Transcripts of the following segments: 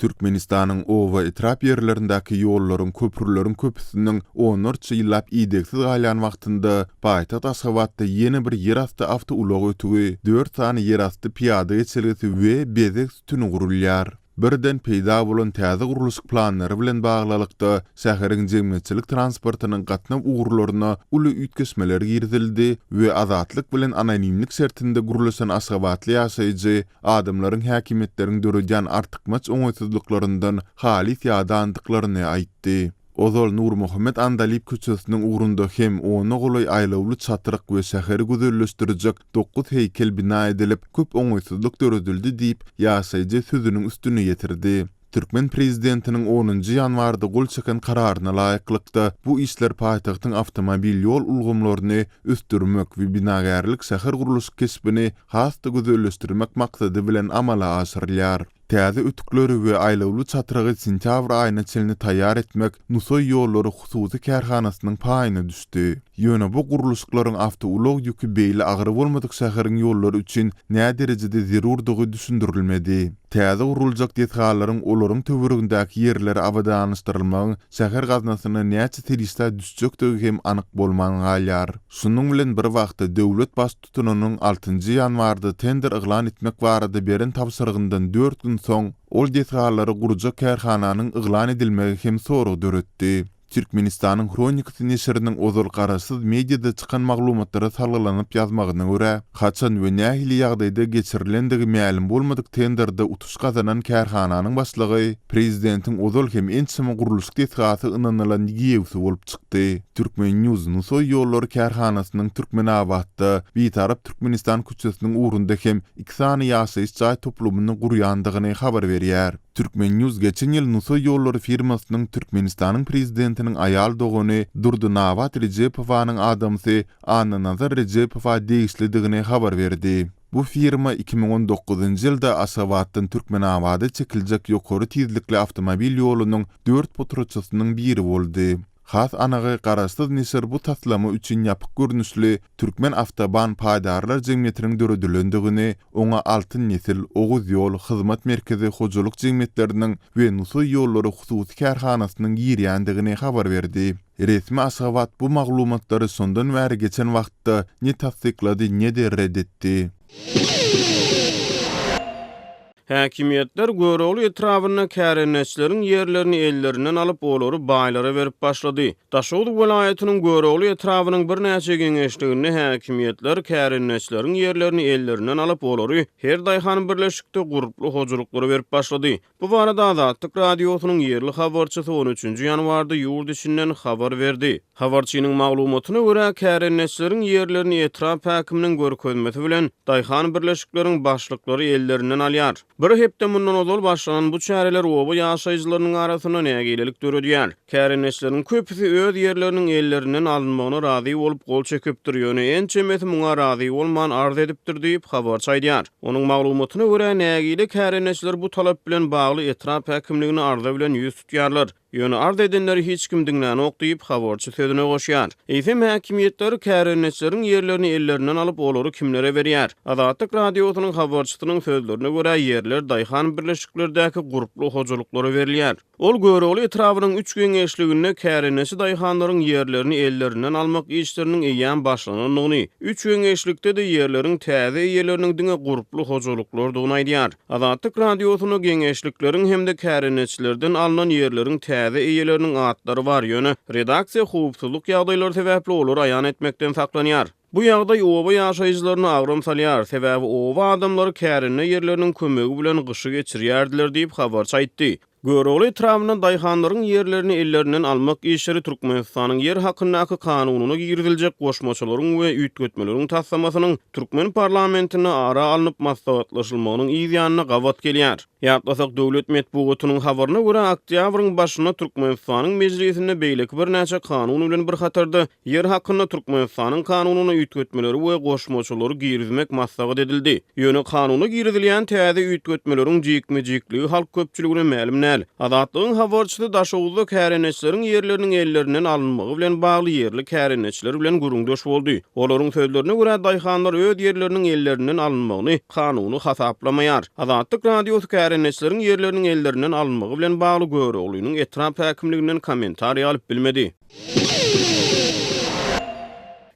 Türkmenistanyň oba, etrap ýerlerindäki ýollaryň, köprüleriň köpüsiniň onlarça ýyllap idegsiz galýan wagtynda, paýtagt Aşgabatda ýene bir ýerasty awtoulag ötügi, dört sany ýerasty pyýada geçelgesi we bezeg sütüni gurulýar. Birden peýda bolan täze gurluşyk planlary bilen baglylykda, şäheriň jemgyýetçilik transportynyň gatnaw ugurlaryna uly üýtgeşmeler girizildi we Azatlyk bilen anonimlik şertinde gürleşen aşgabatly ýaşaýjy adamlaryň häkimiýetleriň döredýän artykmaç oňaýsyzlyklaryndan halys ýadandyklaryny aýtdy. Ozal Nurmuhammet Andalyp köçesiniň ugrunda hem ona golaý aýlawly çatryk we şäheri gözelleşdirjek dokuz heýkel bina edilip, köp oňaýsyzlyk döredildi diýip, ýaşaýjy sözüniň üstüni ýetirdi. Türkmen prezidentiniň onunjy ýanwarda gol çeken Kararyna laýyklykda, bu işler paýtagtyň awtomobil ýol ulgamlaryny ösdürmek we binagärlik-şähergurluşyk keşbini has-da gözelleşdirmek maksady bilen amala aşyrylýar. Täze ötükleri we aýlawly çatrygy sentýabr aýyna çenli taýýar etmek Nusaý ýollary hususy kärhanasynyň paýyna düşdi. Ýöne bu gurluşyklaryň awtoulag ýüki beýle agyr bolmadyk şäheriň ýollary üçin näderejede zerurdygy düşündirilmedi. Täze guruljak desgalaryň olaryň töweregindäki ýerleri abadanlaşdyrylmagyň şäher gaznasyna näçe serişdä düşjekdigi hem anyk bolman galýar. Şunuň bilen bir wagtda, döwlet Baştutanynyň altynjy ýanwarda tender yglan etmek barada beren tabşyrygyndan dört gün soň, ol desgalary gurjak kärhananyň yglan edilmegi hem sorag döretdi. Türkmenistanyň hronikasy neşiriniň ozal garaşsyz mediada çykan maglumatlara salgylanyp ýazmagyna görä, haçan we nähili ýagdaýda geçirilendigi mälim bolmadyk tenderde utuş gazanan kärhananyň başlygy prezidentiň ozal hem ençeme gurluşyk desgasy ynanylan giýewsi bolup çykdy. Turkmen. News Nusaý ýollary kärhanasynyň Türkmenabatda, Bitarap Türkmenistan köçesiniň ugrunda hem iki sany ýaşaýyş jaý toplumyny gurýandygyny habar berýär. Turkmen. News geçen ýyl Nusaý ýollary firmasynyň Türkmenistanyň Prezidentiniň aýal dogany Durdynabat Rejepowanyň adamsy Annanazar Rejepowa degişlidigini habar berdi. Bu firma iki müň on dokuzynjy ýylda Aşgabatdan Türkmenabada çekiljek ýokary tizlikli awtomobil ýolunyň dört potratçysynyň biri boldy. Has anygy, garaşsyz neşir bu taslama üçin ýapyk görnüşli Türkmen awtoban paýdarlar jemgyýetiniň döredilendigini, oňa Altyn nesil, Oguz ýol, Hyzmat merkezi hojalyk jemgyýetleriniň we Nusaý ýollary hususy kärhanasynyň girýändigini habar berdi. Resmi Aşgabat bu maglumatlary şondan bäri geçen wagtda ne tassyklady, ne-de red etdi. Häkimiýetler Görogly etrabynda kärendeçileriň ýerlerini ellerinden alyp, olary baýlara berip başlady. Daşoguz welaýatynyň Görogly etrabynyň birnäçe geňeşliginde häkimiýetler kärendeçileriň ýerlerini ellerinden alyp, olary her daýhan birleşikde gurply hojalyklara berip başlady. Bu barada Azatlyk Radiosynyň ýerli habarçysy on üçünji ýanwarda ýurt içinden habar berdi. Habarçynyň maglumatyna görä, kärendeçileriň ýerlerini etrap häkiminiň görkezmesi bilen, daýhan birleşikleriň başlyklary ellerinden alýar. Bir hepde mundan ozal başlanan bu çäreler oba ýaşaýjylarynyň arasynda nägilelik döredýär. Kärendeçileriň köpüsi öz ýerleriniň ellerinden alynmagyna razy bolup gol çekipdir, ýöne ençemesi muňa razy bolman arz edipdir diýip, habarçy aýdýar. Onuň maglumatyna görä, nägile kärendeçiler bu talap bilen bagly etrap häkimligine arza bilen ýüz tutýarlar. Ýöne arz edenleri hiç kim diňlänok diýip, habarçy sözüne goşýar. Eýsem, häkimiýetler kärendeçileriň ýerlerini ellerinden alyp, olary kimlere berýär? Azatlyk Radiosynyň habarçysynyň sözlerine görä, ýerler daýhan birleşiklerdäki gurply hojalyklara berilýär. Ol Görogly etrabynyň üç geňeşliginde kärendeçi daýhanlaryň ýerlerini ellerinden almak işleriniň eýýäm başlanandygyny, üç geňeşlikde-de ýerleriň täze eýeleriniň diňe gurply hojalyklardygyny aýdýar. Azatlyk Radiosyna geňeşlikleriň hem-de kärendeçilerden alnan ýerleriň täze eýeleriniň atlary bar, ýöne redaksiýa howpsuzlyk ýagdaýlary sebäpli olary aýan etmekden saklanýar. Bu ýagdaý oba ýaşaýjylaryna agram salýar, sebäbi oba adamlary kärende ýerleriniň kömegi bilen gyşy geçirýärdiler diýip, habarçy aýtdy. Görogly etrabynda daýhanlaryň ýerlerini ellerinden almak işleri Türkmenistanyň Ýer hakyndaky kanunyna giriziljek goşmaçalaryň we üýtgetmeleriň taslamasynyň türkmen parlamentinde ara alnyp maslahatlaşylmagynyň yz ýanyna gabat gelýär. Ýatlasak, döwlet metbugatynyň habaryna görä, oktýabryň başynda Türkmenistanyň Mejlisinde beýleki birnäçe kanun bilen bir hatarda, Ýer hakynda Türkmenistanyň Kanunyna üýtgetmeleri we goşmaçalary girizmek maslahat edildi. Ýöne Kanuna girizilýän täze üýtgetmeleriň jikme-jikligi halk köpçüligine mälim däl. Azatlygyň habarçysy Daşoguzda kärendeçileriň ýerleriniň ellerinden alynmagy bilen bagly ýerli kärendeçiler bilen gürrüňdeş boldy. Olaryň sözlerine görä, daýhanlar öz ýerleriniň ellerinden alynmagyny kanuny hasaplamaýar. Azatlyk Radiosy kärendeçileriň ýerleriniň ellerinden alynmagy bilen bagly Göroglynyň etrap häkimliginden kommentariý alyp bilmedi.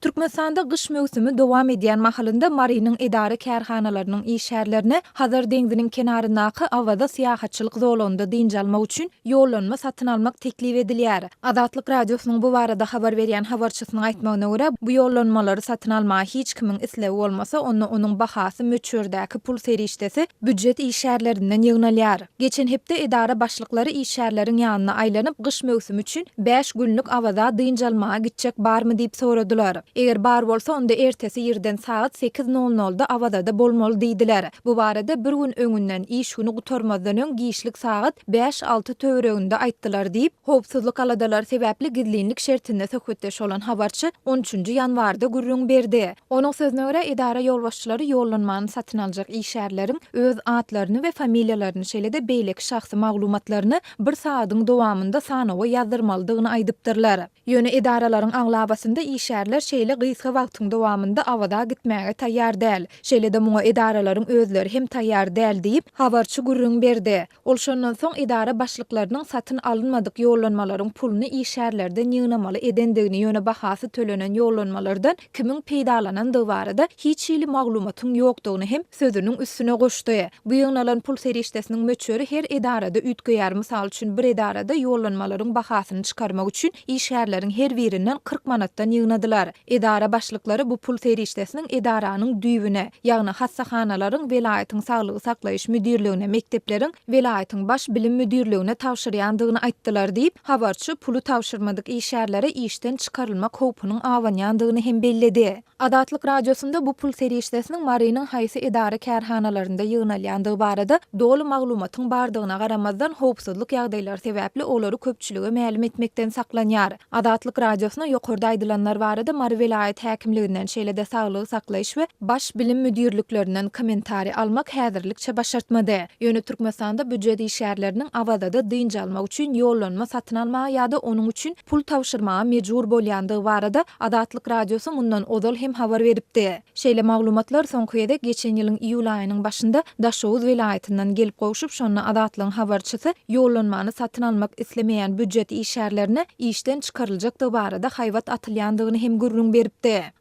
Türkmenistanda gyş möwsümi dowam edýän mahalynda Marynyň edara-kärhanalarynyň işgärlerine Hazar deňziniň kenaryndaky Awaza syýahatçylyk zolagynda dynç almak üçin ýollanma satyn almak teklip edilýär. Azatlyk Radiosynyň bu barada habar berýän habarçysynyň aýtmagyna görä, bu ýollanmalary satyn almaga hiç kimiň islegi bolmasa, onda onuň bahasy möçberdäki pul serişdesi býujet işgärlerinden ýygnalýar. Geçen hepde edara başlyklary işgärleriň ýanyna aýlanyp, gyş möwsümi üçin bäş günlük Awaza dynç almaga gitjek barmy diýip soradylar. Eger bar bolsa, onda ertesi irden sagat sekiz nol nolda Awazada bolmaly diýdiler. Bu barada bir gün öňünden, iş güni gutarmazdan öň giçlik sagat bäş-alty töwereginde aýtdylar diýip, howpsuzlyk aladalary sebäpli gizlinlik şertinde söhbetdeş bolan habarçy on üçünji ýanwarda gürrüň berdi. Onuň sözüne görä, edara ýolbaşçylary ýollanmany satyn aljak işgärleriň öz atlaryny we familiýalaryny, şeýle-de beýleki şahsy maglumatlaryny bir sagadyň dowamynda sanawa ýazdyrmalydygyny aýdypdyrlar. Ýöne edaralaryň aglabasynda işgärler şeýle gysga wagtyň dowamynda Awaza gitmäge taýýar däl. Şeýle-de muňa edaralaryň özleri hem taýýar däl diýip, habarçy gürrüň berdi. Ol şondan soň edara başlyklarynyň satyn alynmadyk ýollanmalaryň puluny işgärlerden ýygnamaly edendigini, ýöne bahasy tölenen ýollanmalardan kimiň peýdalanandygy barada hiç hili maglumatyň ýokdugyny hem sözüniň üstüne goşdy. Bu ýygnalan pul serişdesiniň möçberi her edarada üýtgeýär, mysal üçin bir edarada ýollanmalaryň bahasyny çykarmak üçin işgärleriň her birinden kyrk manatdan ýygnadylar. Edara başlyklary bu pul serişdesiniň edaranyň düýbüne, ýagny hassahanalaryň, welaýatyň saglygy saklaýyş müdirligine, mekdepleriň, welaýatyň Baş bilim müdirligine tabşyrýandygyny aýtdylar diýip, habarçy puly tabşyrmadyk işgärlere işden çykarylmak howpunyň abanýandygyny hem belledi. Azatlyk Radiosynda bu pul serişdesiniň Marynyň haýsy edara-kärhanalarynda ýygnalýandygy barada doly maglumatyň bardygyna garamazdan, howpsuzlyk ýagdaýlary sebäpli olary köpçülige mälim etmekden saklanýar. Azatlyk Radiosyna ýokarda aýdylanlar barada Mary welaýat häkimliginden, şeýle-de Saglygy saklaýyş we Baş bilim müdirliklerinden kommentariý almak häzirlikçe başartmady. Ýöne Türkmenistanda býujet işgärleriniň Awazada dynç almak üçin ýollanma satyn almaga ýa-da onuň üçin pul tabşyrmaga mejbur bolýandygy barada Azatlyk Radiosy mundan ozal hem habar beripdi. Şeýle maglumatlar soňky gezek geçen ýylyň iýul aýynyň başynda Daşoguz welaýatyndan gelip gowşup, şonda Azatlygyň habarçysy ýollanmany satyn almak islemeýän býujet işgärlerine işden çykaryljakdygy barada haýbat atylýandygyny hem gürrüň beripdi.